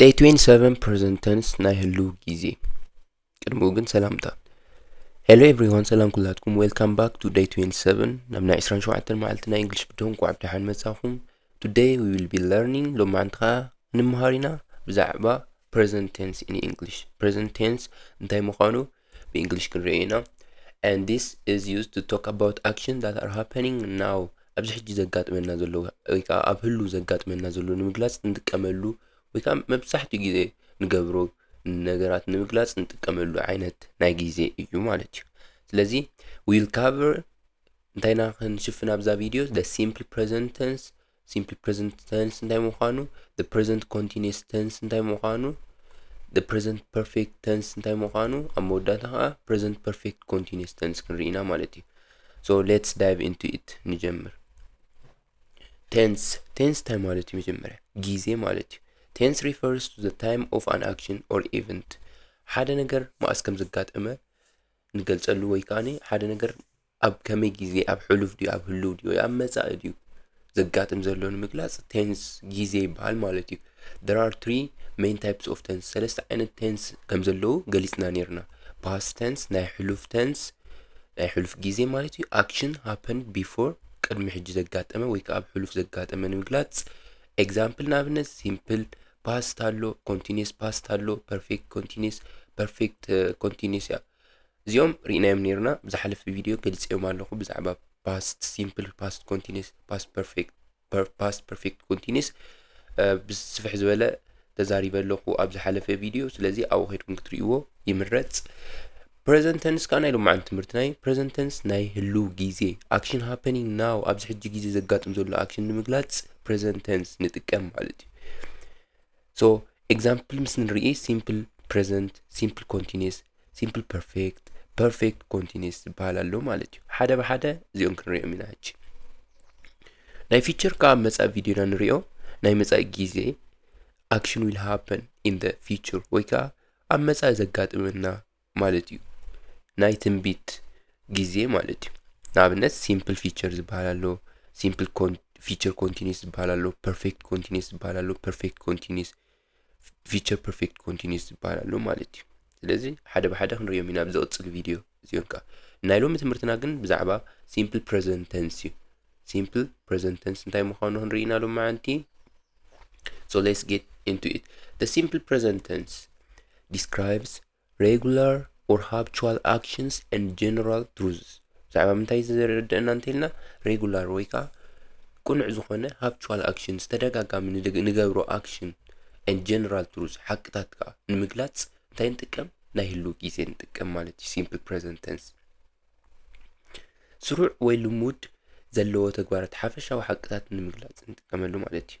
ደይ 27 ፕሬዘንተንስ ናይ ህሉ ጊዜ ቅድሚኡ ግን ሰላምታ ሄሎ ኤቭሪዋን ሰላም ኩላትኩም ዌልካም ባክ ቱ ደይ 27 ናብ ናይ 27 መዓልቲ ናይ እንግሊሽ ብድሆን ቋዕ ብድሓን መጻኹም ቱደይ ዊ ዊል ቢ ለርኒንግ ሎማዓንቲ ከዓ ንምሃር ኢና ብዛዕባ ፕሬዘንት ቴንስ ኢን እንግሊሽ ፕሬዘንት ቴንስ እንታይ ምዃኑ ብእንግሊሽ ክንሪኦ ኢና and this is used to talk about action that are happening now ኣብዚ ሕጂ ዘጋጥመና ዘሎ ወይ ከዓ ኣብ ህሉ ዘጋጥመና ዘሎ ንምግላፅ እንጥቀመሉ ወይ ከዓ መብዛሕትኡ ግዜ ንገብሮ ነገራት ንምግላፅ እንጥቀመሉ ዓይነት ናይ ግዜ እዩ ማለት እዩ ስለዚ ዊል ካቨር እንታይና ክንሽፍን ኣብዛ ቪድዮ the simple present tense ሲምፕሊ ፕሬዘንት ተንስ እንታይ ምዃኑ ፕሬዘንት ኮንቲኒስ ተንስ እንታይ ምዃኑ ፕሬዘንት ፐርፌክት ተንስ እንታይ ምዃኑ ኣብ መወዳእታ ከዓ ፕሬዘንት ፐርፌክት ኮንቲኒስ ተንስ ክንርኢና ማለት እዩ ሶ ሌትስ ዳይቭ ኢንቱ ኢት ንጀምር ቴንስ ቴንስ እንታይ ማለት እዩ መጀመርያ ጊዜ ማለት እዩ ቴንስ ሪፈርስ ቱ ዘ ታይም ኦፍ ኣን ኣክሽን ኦር ኢቨንት ሓደ ነገር መኣስ ከም ዘጋጠመ ንገልጸሉ ወይ ከዓ ሓደ ነገር ኣብ ከመይ ግዜ፣ ኣብ ሕሉፍ ድዩ ኣብ ህሉው ድዩ ወይ ኣብ መጻኢ ድዩ ዘጋጥም ዘሎ ንምግላጽ ቴንስ ግዜ ይበሃል ማለት እዩ። There are three main types of tense ሰለስተ ዓይነት ቴንስ ከም ዘለዉ ገሊጽና ነይርና። past tense ናይ ሕሉፍ ቴንስ ናይ ሕሉፍ ግዜ ማለት እዩ። action happened before ቅድሚ ሕጂ ዘጋጠመ ወይ ከኣ ኣብ ሕሉፍ ዘጋጠመ ንምግላጽ ኤግዛምፕል ንኣብነት ሲምፕል ፓስት ኣሎ፣ ኮንቲኒስ ፓስት ኣሎ፣ ፐርፌክት ኮንቲኒስ ፐርፌክት ኮንቲኒስ እያ። እዚኦም ርኢናዮም ነይርና ብዝሓለፈ ቪድዮ ገልጸዮም ኣለኹ ብዛዕባ ፓስት ሲምፕል ፓስት ኮንቲኒስ ፓስት ፐርፌክት ፓስት ፐርፌክት ኮንቲኒስ ብስፍሕ ዝበለ ተዛሪበ ኣለኹ ኣብ ዝሓለፈ ቪድዮ ስለዚ ኣብኡ ከድኩም ክትርእይዎ ይምረጽ ፕሬዘንት ተንስ ከዓ ናይ ሎማዓንቲ ትምህርትና እዩ ፕሬዘንት ተንስ ናይ ህልው ግዜ ኣክሽን ሃፐኒንግ ናው ኣብዚ ሕጂ ግዜ ዘጋጥም ዘሎ ኣክሽን ንምግላጽ ፕሬዘንት ተንስ ንጥቀም ማለት እዩ ሶ ኤግዛምፕል ምስ ንርኢ ሲምፕል ፕሬዘንት ሲምፕል ኮንቲኒስ ሲምፕል ፐርፌክት ፐርፌክት ኮንቲኒስ ዝበሃል ኣሎ ማለት እዩ ሓደ ብሓደ እዚኦም ክንሪኦም ኢና ሕጂ ናይ ፊቸር ከዓ መፃኢ ቪድዮና ንሪኦ ናይ መፃኢ ግዜ ኣክሽን ዊል ሃፐን ኢን ደ ፊቸር ወይ ከዓ ኣብ መፃኢ ዘጋጥመና ማለት እዩ ናይ ትንቢት ግዜ ማለት እዩ ንኣብነት ሲምፕል ፊቸር ዝበሃል ኣሎ ሲምፕል ፊቸር ኮንቲኒስ ዝበሃል ኣሎ ፐርፌክት ኮንቲኒስ ዝበሃል ኣሎ ፐርፌክት ኮንቲኒስ ፊቸር ፐርፌክት ኮንቲኒስ ዝበሃል ኣሎ ማለት እዩ ስለዚ ሓደ ብሓደ ክንሪኦም ኢና ኣብ ዝቕፅል ቪድዮ እዚኦም ከዓ ናይ ሎሚ ትምህርትና ግን ብዛዕባ ሲምፕል ፕሬዘንት ተንስ እዩ ሲምፕል ፕሬዘንት ተንስ እንታይ ምዃኑ ክንርኢ ኢና ሎሚ መዓንቲ so let's get into it the simple present tense describes Regular or Habitual Actions and General Truths ብዛዕባ ምንታይ ዘረድእና እንተልና ሬጉላር ወይ ከዓ ቅኑዕ ዝኾነ ሃብቹዋል ኣክሽን ዝተደጋጋሚ ንገብሮ ኣክሽን ን ጀነራል ትሩዝ ሓቅታት ከዓ ንምግላፅ እንታይ ንጥቀም ናይ ህልው ግዜ ንጥቀም ማለት እዩ ሲምፕል ፕሬዘንት ተንስ ስሩዕ ወይ ልሙድ ዘለዎ ተግባራት ሓፈሻዊ ሓቅታት ንምግላፅ ንጥቀመሉ ማለት እዩ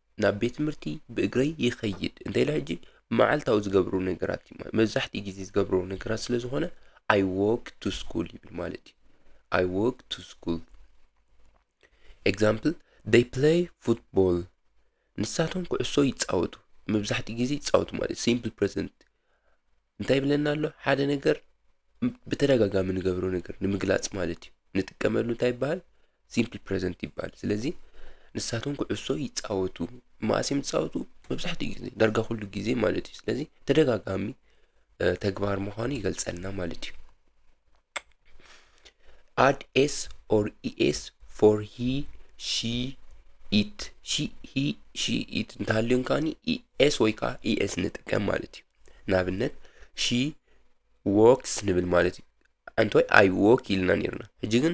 ናብ ቤት ትምህርቲ ብእግረይ ይኸይድ እንታይ ኢለ ሕጂ መዓልታዊ ዝገብሩ ነገራት እዩ ማለት መብዛሕትኡ ግዜ ዝገብሩ ነገራት ስለ ዝኾነ ኣይ ዎክ ቱ ስኩል ይብል ማለት እዩ ኣይ ዎክ ቱ ስኩል ኤግዛምፕል ደይ ፕለይ ፉትቦል ንሳቶም ኩዕሶ ይፃወቱ መብዛሕትኡ ግዜ ይፃወቱ ማለት ሲምፕል ፕሬዘንት እንታይ ይብለና ኣሎ ሓደ ነገር ብተደጋጋሚ ንገብሮ ነገር ንምግላጽ ማለት እዩ ንጥቀመሉ እንታይ ይበሃል ሲምፕል ፕሬዘንት ይበሃል ስለዚ ንሳቶም ኩዕሶ ይፃወቱ መዓስ እዮም ዝፃወቱ መብዛሕትኡ ጊዜ ዳርጋ ኩሉ ጊዜ ማለት እዩ ስለዚ ተደጋጋሚ እ፣ ተግባር ምዃኑ ይገልጸልና ማለት እዩ add s or es for he she it she he she it እንተሃልዮም ከዓኒ es ወይ ከዓ es ንጥቀም ማለት እዩ ንኣብነት ሺ ዎክስ ንብል ማለት እዩ ኣንታይ ኣይ ዎክ ኢልና ነርና ሕጂ ግን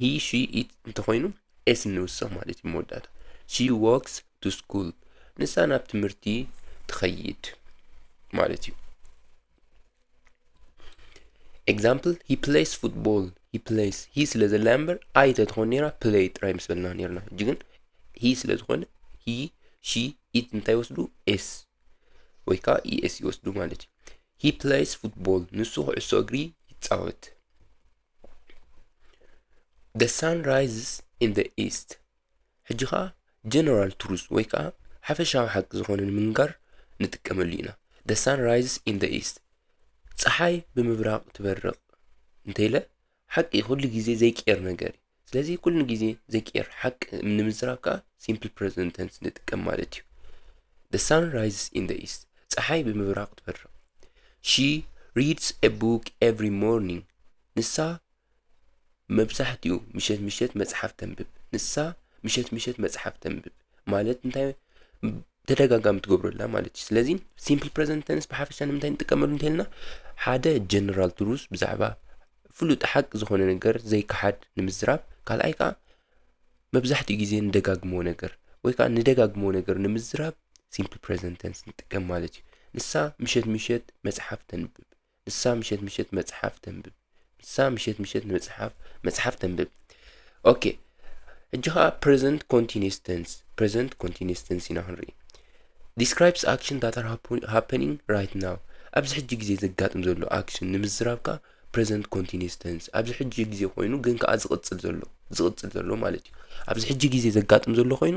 ሂ ሺ ኢት እንተኾይኑ ኤስ እንውስኽ ማለት እዩ መወዳእታ ሺ ዎክስ ቱ ስኩል ንሳ ናብ ትምህርቲ ትኸይድ ማለት እዩ ኤግዛምፕል ሂ ፕሌይስ ፉትቦል ሂ ፕሌይስ ሂ ስለ ዘላ እምበር ኣይ ተትኾን ነራ ፕሌይ ጥራይ ምስ በልና ነርና ሕጂ ግን ሂ ስለ ዝኾነ ሂ ሺ ኢት እንታይ ወስዱ ኤስ ወይ ከዓ ኢኤስ ይወስዱ ማለት እዩ ሂ ፕሌይስ ፉትቦል ንሱ ኩዕሶ እግሪ ይፃወት ደ ሳን ራይዝስ ኢን ደ ኢስት ሕጂ ከዓ ጀነራል ትሩዝ ወይ ከዓ ሓፈሻዊ ሓቂ ዝኾነ ንምንጋር ንጥቀመሉ ኢና ደ ሳን ራይዝስ ኢን ደ ኢስት ፀሓይ ብምብራቕ ትበርቕ እንተይለ ሓቂ ኩሉ ግዜ ዘይቅየር ነገር እዩ። ስለዚ ኩሉ ግዜ ዘይቅየር ሓቂ ንምዝራብ ከኣ ሲምፕል ፕረዘንት ተንስ ንጥቀም ማለት እዩ። The sun rises in the east. ፀሓይ ብምብራቕ ትበርቕ። She reads a book every morning. ንሳ መብዛሕትኡ ምሸት ምሸት መጽሓፍ ተንብብ። ንሳ ምሸት ምሸት መጽሓፍ ተንብብ ማለት እንታይ ተደጋጋሚ ትገብሮ ኣላ ማለት እዩ ስለዚ ሲምፕል ፕረዘንት ተንስ ብሓፈሻ ንምንታይ ንጥቀመሉ እንተልና ሓደ ጀነራል ትሩስ ብዛዕባ ፍሉጥ ሓቂ ዝኾነ ነገር ዘይከሓድ ንምዝራብ ካልኣይ ከዓ መብዛሕትኡ ግዜ ንደጋግሞ ነገር ወይ ከዓ ንደጋግሞ ነገር ንምዝራብ ሲምፕል ፕረዘንት ተንስ ንጥቀም ማለት እዩ ንሳ ምሸት ምሸት መፅሓፍ ተንብብ ንሳ ምሸት ምሸት መጽሓፍ ተንብብ ንሳ ምሸት ምሸት መጽሓፍ መጽሓፍ ተንብብ ኦኬ ሕጂ ከዓ ፕሬዘንት ኮንቲኒስ ተንስ ፕሬዘንት ኮንቲኒስ ተንስ ኢና ክንርኢ ዲስክራይብስ ኣክሽን ዳት ኣር ሃፐኒንግ ራይት ናው ኣብዚ ሕጂ ግዜ ዘጋጥም ዘሎ ኣክሽን ንምዝራብ ከዓ ፕሬዘንት ኮንቲኒስ ተንስ ኣብዚ ሕጂ ግዜ ኮይኑ ግን ከዓ ዝቕጽል ዘሎ ዝቕጽል ዘሎ ማለት እዩ ኣብዚ ሕጂ ግዜ ዘጋጥም ዘሎ ኮይኑ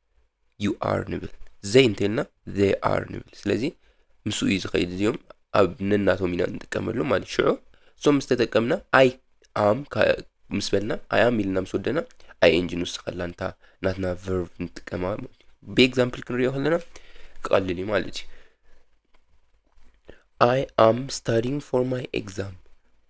ዩ ኣር ንብል ዘይ እንተልና ዘይ ኣር ንብል ስለዚ ምስ እዩ ዝኸይድ እዚኦም ኣብ ነናቶም ኢና ንጥቀመሉ ማለት ሽዑ እሶም ምስ ተጠቀምና ኣይ ኣም ምስ በልና ኣይ ኣም ኢልና ምስ ወደና ኣይ ኤንጂ ንውስኸላ እንታ ናትና ቨርቭ ንጥቀማ ማለት እዩ ብኤግዛምፕል ክንሪኦ ከለና ክቐልል እዩ ማለት እዩ ኣይ ኣም ስታዲንግ ፎር ማይ ኤግዛም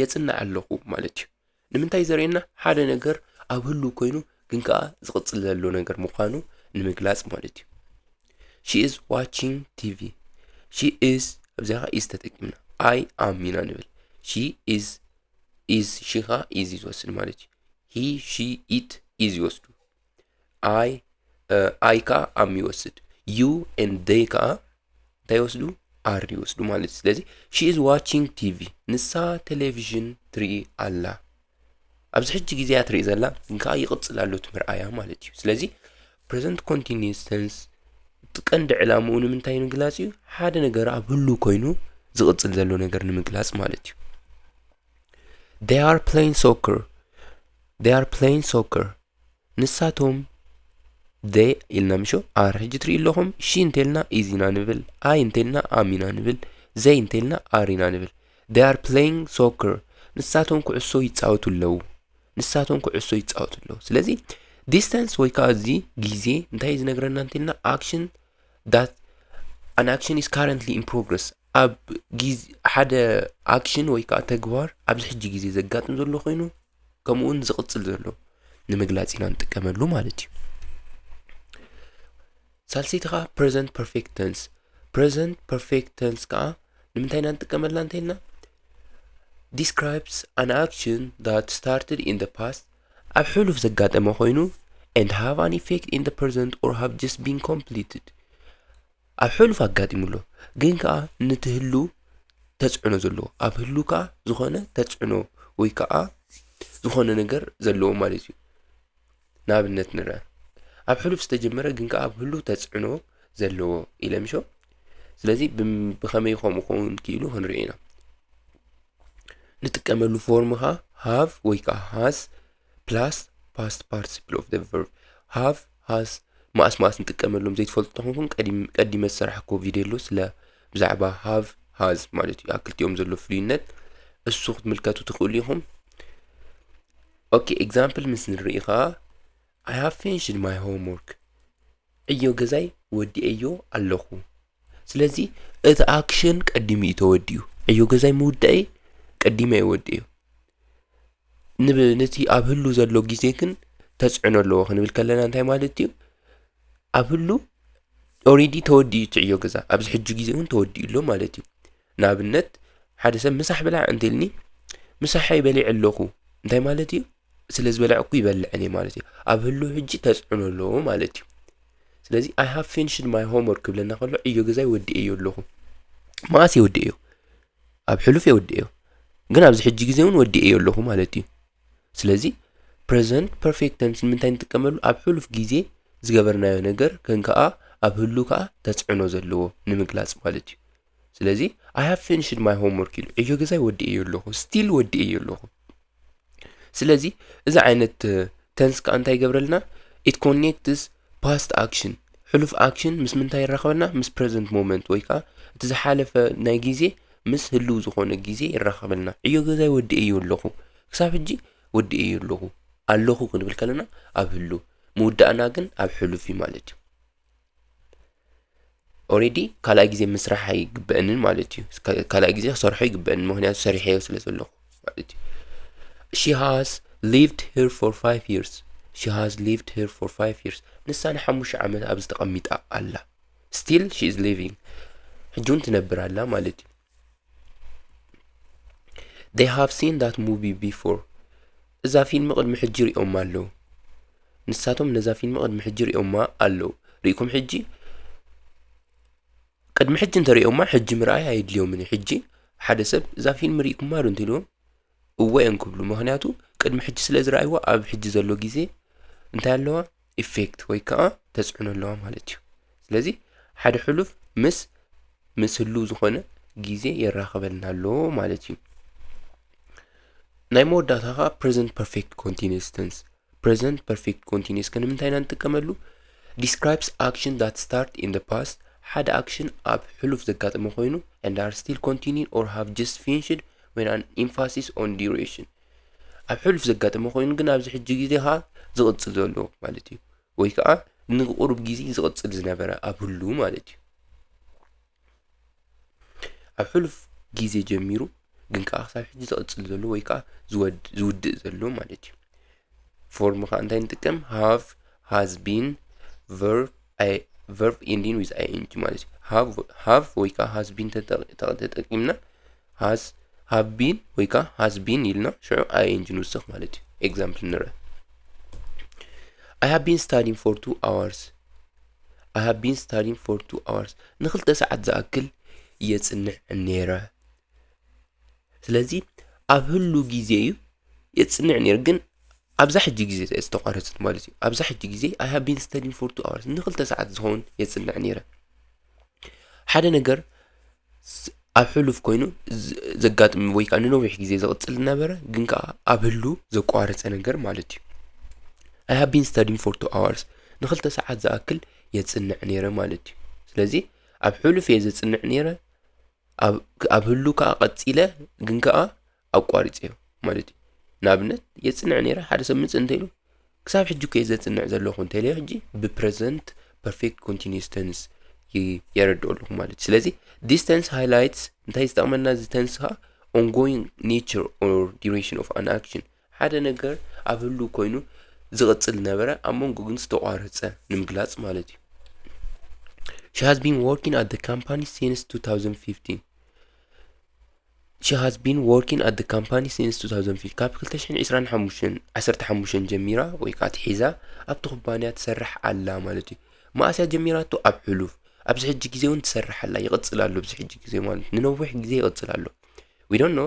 የጽንዕ ኣለኹ ማለት እዩ ንምንታይ ዘርእየና ሓደ ነገር ኣብ ህሉ ኮይኑ ግን ከዓ ዝቕጽል ዘሎ ነገር ምዃኑ ንምግላጽ ማለት እዩ ሺ ኢዝ ዋቺንግ ቲቪ ሺ ኢዝ ኣብዚያ ከዓ ኢዝ ተጠቂምና ኣይ ኣም ኢና ንብል ሺ ኢዝ ኢዝ ሺ ከዓ ኢዝ እዩ ዝወስድ ማለት እዩ ሂ ሺ ኢት ኢዝ ይወስዱ ኣይ ኣይ ከዓ ኣም ይወስድ ዩ ኤን ደይ ከዓ እንታይ ይወስዱ ኣር ይወስዱ ማለት እዩ ስለዚ ሺ ኢዝ ዋቺንግ ቲቪ ንሳ ቴሌቭዥን ትርኢ ኣላ ኣብዚ ሕጂ ግዜ እያ ትርኢ ዘላ ግን ከዓ ይቕፅል ኣሎ እቲ ምርኣያ ማለት እዩ ስለዚ ፕሬዘንት ኮንቲኒስ ተንስ እቲ ቀንዲ ዕላምኡ ንምንታይ ምግላፅ እዩ ሓደ ነገር ኣብ ህሉ ኮይኑ ዝቕፅል ዘሎ ነገር ንምግላፅ ማለት እዩ they are playing soccer they are playing soccer ንሳቶም the ኢልና ምሾ ኣር ሕጂ ትሪኡ ኣለኹም ሺ እንተልና ኢዝ ኢና ንብል ኣይ እንተልና ኣም ኢና ንብል ዘይ እንተልና ኣር ኢና ንብል they are playing soccer ንሳቶም ኩዕሶ ይፃወቱ ኣለዉ ንሳቶም ኩዕሶ ይፃወቱ ኣለዉ ስለዚ ዲስታንስ ወይ ከዓ እዚ ግዜ እንታይ ዝነግረና እንተልና ኣክሽን ዳት ኣን ኣክሽን ኢስ ካረንትሊ ኢን ፕሮግረስ ኣብ ግዜ ሓደ ኣክሽን ወይ ከዓ ተግባር ኣብዚ ሕጂ ግዜ ዘጋጥም ዘሎ ኮይኑ ከምኡውን ዝቕጽል ዘሎ ንምግላጽ ኢና ንጥቀመሉ ማለት እዩ ሳልሰይቲ ከዓ ፕሬዘንት ፐርፌክት ተንስ ፕሬዘንት ፐርፌክት ተንስ ከዓ ንምንታይ ኢና ንጥቀመላ እንተይልና ዲስክራይብስ ኣን ኣክሽን ዳት ስታርትድ ኢን ደ ፓስት ኣብ ሕሉፍ ዘጋጠመ ኮይኑ ኤንድ ሃቭ ኣን ኢፌክት ኢን ደ ፕሬዘንት ኦር ሃቭ ጀስት ቢን ኮምፕሊትድ ኣብ ሕሉፍ ኣጋጢሙ ኣሎ ግን ከኣ ንቲ ህሉው ተጽዕኖ ዘለዎ ኣብ ህሉው ከኣ ዝኾነ ተጽዕኖ ወይ ከኣ ዝኾነ ነገር ዘለዎ ማለት እዩ ንኣብነት ንርኣ ኣብ ሕሉፍ ዝተጀመረ ግን ከኣ ኣብ ህሉው ተጽዕኖ ዘለዎ ኢለ ምሾ ስለዚ ብኸመይ ከምኡ ክኸውን ክኢሉ ክንርኢ ኢና ንጥቀመሉ ፎርም ኸኣ ሃቭ ወይ ከኣ ሃዝ ፕላስ ፓስት ፓርቲሲፕል ኦፍ ቨርብ ሃቭ ሃዝ መኣስ መኣስ ንጥቀመሎም ዘይትፈልጡ ተኾንኩም ቀዲመ ዝሰራሕኮ ቪድዮ ኣሎ ስለ ብዛዕባ ሃቭ ሃዝ ማለት እዩ ኣብ ክልቲኦም ዘሎ ፍሉይነት እሱ ክትምልከቱ ትኽእሉ ኢኹም ኦኬ ኤግዛምፕል ምስ ንርኢ ከዓ ኣይ ሃቭ ፊኒሽድ ማይ ሆምወርክ ዕዮ ገዛይ ወዲኤዮ ኣለኹ ስለዚ እቲ ኣክሽን ቀዲሙ እዩ ተወዲኡ ዕዮ ገዛይ ምውዳኤ ቀዲመ ይወድእ እዩ ንቲ ኣብ ህሉ ዘሎ ጊዜ ግን ተጽዕኖ ኣለዎ ክንብል ከለና እንታይ ማለት እዩ ኣብ ህሉ ኦሬዲ ተወዲኡ ትዕዮ ገዛ ኣብዚ ሕጂ ጊዜ እውን ተወዲኡ ኣሎ ማለት እዩ ንኣብነት ሓደ ሰብ ምሳሕ ብላዕ እንተልኒ ምሳሐይ በሊዕ ኣለኹ እንታይ ማለት እዩ ስለ ዝበላዕኩ ይበልዐን እየ ማለት እዩ ኣብ ህሉ ሕጂ ተጽዕኖ ኣለዎ ማለት እዩ ስለዚ ኣይ ሃብ ፊንሽድ ማይ ሆምወርክ ክብለና ከሎ ዕዮ ገዛይ ወዲኤዮ ኣለኹ መኣስ እየ ወዲኤዮ ኣብ ሕሉፍ የወድኤዮ ግን ኣብዚ ሕጂ ግዜ እውን ወዲኤዮ ኣለኹ ማለት እዩ ስለዚ ፕረዘንት ፐርፌክት ተንስ ንምንታይ ንጥቀመሉ ኣብ ሕሉፍ ግዜ ዝገበርናዮ ነገር ከን ከኣ ኣብ ህሉ ከኣ ተጽዕኖ ዘለዎ ንምግላጽ ማለት እዩ ስለዚ ኣይ ሃቭ ፊኒሽድ ማይ ሆምወርክ ኢሉ ዕዮ ገዛይ ወዲኤዮ ኣለኹ ስቲል ወዲኤዮ ኣለኹ ስለዚ እዚ ዓይነት ተንስ ከዓ እንታይ ይገብረልና ኢት ኮኔክትስ ፓስት ኣክሽን ሕሉፍ ኣክሽን ምስ ምንታይ ይራኸበና ምስ ፕረዘንት ሞመንት ወይ ከዓ እቲ ዝሓለፈ ናይ ግዜ ምስ ህልው ዝኾነ ግዜ ይራኸበልና ዕዮ ገዛይ ወዲእዮ ኣለኹ ክሳብ ሕጂ ወዲእዮ ኣለኹ ኣለኹ ክንብል ከለና ኣብ ህሉ ምውዳእና ግን ኣብ ሕሉፍ እዩ ማለት እዩ ኦሬዲ ካልኣይ ግዜ ምስራሕ ኣይግበአንን ማለት እዩ ካልኣይ ግዜ ክሰርሖ ይግበአን ምክንያቱ ሰሪሐዮ ስለ ዘለኹ ማለት እዩ ሺ ሃዝ ሊቭድ ሄር ፎር ፋይቭ ይርስ ሺ ሃዝ ሊቭድ ሄር ፎር ፋይቭ ይርስ ንሳ ንሓሙሽተ ዓመት ኣብዚ ተቐሚጣ ኣላ ስቲል ሺ ኢዝ ሊቪንግ ሕጂ እውን ትነብር ኣላ ማለት እዩ They have seen that movie before. እዛ ፊልም ቅድሚ ሕጂ ሪኦማ ኣለዉ። ንሳቶም ነዛ ፊልም ቅድሚ ሕጂ ሪኦማ ኣለዉ። ርኢኩም ሕጂ ቅድሚ ሕጂ እንተሪኦማ ሕጂ ምርኣይ ኣየድልዮምን እዩ። ሕጂ ሓደ ሰብ እዛ ፊልም ርኢኩማ ዶ እንተኢልዎም እወ እዮም ክብሉ ምክንያቱ ቅድሚ ሕጂ ስለ ዝረኣይዎ ኣብ ሕጂ ዘሎ ግዜ እንታይ ኣለዋ ኢፌክት ወይ ከዓ ተፅዕኖ ኣለዋ ማለት እዩ ስለዚ ሓደ ሕሉፍ ምስ ምስ ህልው ዝኾነ ግዜ የራኽበልና ኣሎ ማለት እዩ ናይ መወዳእታ ከዓ ፕሬዘንት ፐርፌክት ኮንቲኒስ ተንስ ፕረዘንት ፐርፌክት ኮንቲኒየስ ከ ንምንታይ ኢና ንጥቀመሉ? ዲስክራይብስ ኣክሽን ዳት ስታርት ኢን ደ ፓስት ሓደ ኣክሽን ኣብ ሕሉፍ ዘጋጠመ ኮይኑ and are still continuing or have just finished when an emphasis on duration ኣብ ሕሉፍ ዘጋጠመ ኮይኑ ግን ኣብዚ ሕጂ ግዜ ከዓ ዝቕፅል ዘሎ ማለት እዩ ወይ ከዓ ንቁሩብ ግዜ ዝቕፅል ዝነበረ ኣብ ህሉ ማለት እዩ ኣብ ሕሉፍ ግዜ ጀሚሩ ግን ከዓ ክሳብ ሕጂ ዝቕጽል ዘሎ ወይ ከዓ ዝውድእ ዘሎ ማለት እዩ ፎርም ከዓ እንታይ ንጥቀም ሃቭ ሃዝ ቢን ቨርብ ኢንዲን ዊዝ ኣይኤንጂ ማለት እዩ ሃቭ ወይ ከዓ ሃዝ ቢን ተጠቂምና ሃዝ ሃብ ቢን ወይ ከዓ ሃዝ ቢን ኢልና ሽዑ ኣይኤንጂ ንውስኽ ማለት እዩ ኤግዛምፕል ንርአ I have been studying for two hours I have been studying for two hours ንክልተ ሰዓት ዝኣክል እየ ጽንዕ ነይረ ስለዚ ኣብ ህሉ ግዜ እዩ የጽንዕ ነይረ ግን ኣብዛ ሕጂ ግዜ እዚኣ ዝተቋረጸት ማለት እዩ ኣብዛ ሕጂ ግዜ I have been studying for two hours ንክልተ ሰዓት ዝኸውን የጽንዕ ነይረ ሓደ ነገር ኣብ ሕሉፍ ኮይኑ ዘጋጥም ወይ ከዓ ንነዊሕ ግዜ ዝቕፅል ዝነበረ ግን ከዓ ኣብ ህሉ ዘቋረፀ ነገር ማለት እዩ ኣይ ሃብ ቢን ስታዲን ፎር ቱ ኣዋርስ ንክልተ ሰዓት ዝኣክል የፅንዕ ነይረ ማለት እዩ ስለዚ ኣብ ሕሉፍ እየ ዘፅንዕ ነይረ ኣብ ህሉ ከዓ ቐፂለ ግን ከዓ ኣቋሪፀዮ ማለት እዩ ንኣብነት የፅንዕ ነይረ ሓደ ሰብ ምፅ እንተኢሉ ክሳብ ሕጂ እኮ ዘፅንዕ ዘለኹ እንተኢለዮ ሕጂ ብፕረዘንት ፐርፌክት ኮንቲኒስ ተንስ የረድኦ ኣለኹ ማለት እዩ ስለዚ ዲስ ተንስ ሃይላይትስ እንታይ ዝጠቕመና እዚ ተንስ ከዓ ኦንጎይንግ ኔቸር ኦር ዲሬሽን ኦፍ ኣን ኣክሽን ሓደ ነገር ኣብ ህሉ ኮይኑ ዝቕፅል ነበረ ኣብ መንጎ ግን ዝተቋረፀ ንምግላፅ ማለት እዩ She has been working at the company since 2015 She has been working at the company since 2005 ካብ 2025 ዓሰርተ ሓሙሽተ ጀሚራ ወይ ከዓ ትሒዛ ኣብቲ ኩባንያ ትሰርሕ ኣላ ማለት እዩ መኣስ እያ ጀሚራቶ ኣብ ሕሉፍ ኣብዚ ሕጂ ግዜ እውን ትሰርሕ ኣላ ይቕፅል ኣሎ ኣብዚ ሕጂ ግዜ ማለት ንነዊሕ ግዜ ይቕፅል ኣሎ ዊ ዶንት ኖ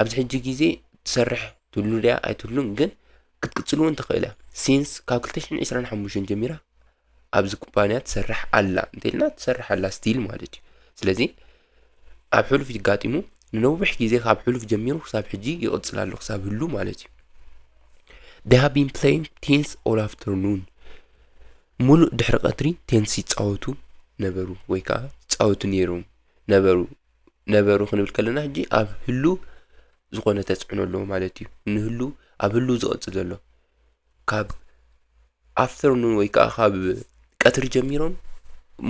ኣብዚ ሕጂ ግዜ ትሰርሕ ትህሉ ድያ ኣይትህሉን ግን ክትቅጽል እውን ትኽእል እያ ሲንስ ካብ 2025 ጀሚራ ኣብዚ ኩባንያ ትሰርሕ ኣላ እንተልና ትሰርሕ ኣላ ስቲል ማለት እዩ ስለዚ ኣብ ሕሉፍ ይጋጢሙ ንነዊሕ ግዜ ካብ ሕሉፍ ጀሚሩ ክሳብ ሕጂ ይቕጽል ኣሎ ክሳብ ህሉ ማለት እዩ they have been playing tennis all afternoon ሙሉእ ድሕሪ ቀትሪ ቴንስ ይፃወቱ ነበሩ ወይ ከዓ ይፃወቱ ነይሮም ነበሩ ነበሩ ክንብል ከለና ሕጂ ኣብ ህሉ ዝኾነ ተጽዕኖ ኣለዎ ማለት እዩ ንህሉ ኣብ ህሉ ዝቕጽል ዘሎ ካብ ኣፍተርኑን ወይ ከዓ ካብ ቀትሪ ጀሚሮም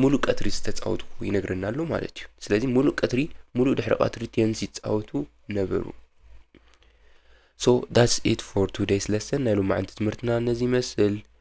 ሙሉእ ቀትሪ ዝተፃወቱ ይነግረና ኣሎ ማለት እዩ ስለዚ ሙሉእ ቀትሪ ሙሉእ ድሕሪ ቀትሪ ቴንስ ይፃወቱ ነበሩ ሶ ዳትስ ኢት ፎር ቱዴይስ ለሰን ናይ ሎማዓንቲ ትምህርትና ነዚ ይመስል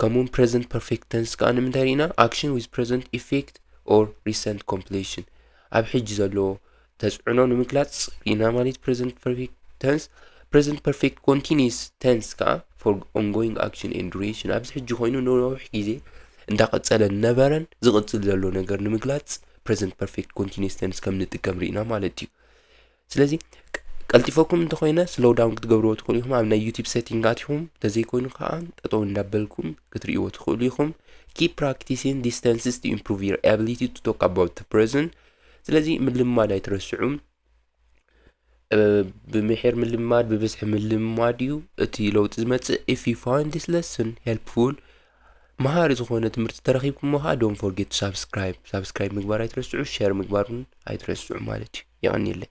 ከምኡውን ፕረዘንት ፐርፌክት ተንስ ከኣ ንምንታይ ርኢና ኣክሽን ዊዝ ፕረዘንት ኢፌክት ኦር ሪሰንት ኮምፕሌሽን ኣብ ሕጂ ዘለዎ ተጽዕኖ ንምግላጽ ርኢና ማለት ፕረዘንት ፐርፌክት ተንስ ፕረዘንት ፐርፌክት ኮንቲኒስ ተንስ ከኣ ፎር ኦንጎይንግ ኣክሽን ኤንድ ዱሬሽን ኣብዚ ሕጂ ኮይኑ ንነዊሕ ግዜ እንዳቐጸለ ነበረን ዝቕጽል ዘሎ ነገር ንምግላጽ ፕረዘንት ፐርፌክት ኮንቲኒስ ተንስ ከም ንጥቀም ርኢና ማለት እዩ ስለዚ ቀልጢፈኩም እንተኾይነ ስሎው ዳውን ክትገብርዎ ትኽእሉ ኢኹም ኣብ ናይ ዩቲብ ሴቲንግ ኣትኹም እንተዘይኮይኑ ከዓ ጠጠው እንዳበልኩም ክትርእይዎ ትኽእሉ ኢኹም ኪፕ ፕራክቲሲን ዲስተንስስ ቱ ኢምፕሩቭ ዩር ኣቢሊቲ ቱ ቶክ ኣባውት ፕሬዘን ስለዚ ምልማድ ኣይትረስዑ ብምሒር ምልማድ ብብዝሒ ምልማድ እዩ እቲ ለውጢ ዝመፅእ ኢፍ ዩ ፋይንድ ዲስ ለስን ሄልፕፉል መሃሪ ዝኾነ ትምህርቲ ተረኺብኩሞ ኸኣ ዶን ፎርጌት ሳብስክራይብ ሳብስክራይብ ምግባር ኣይትረስዑ ሸር ምግባር እውን ኣይትረስዑ ማለት እዩ የቐኒለይ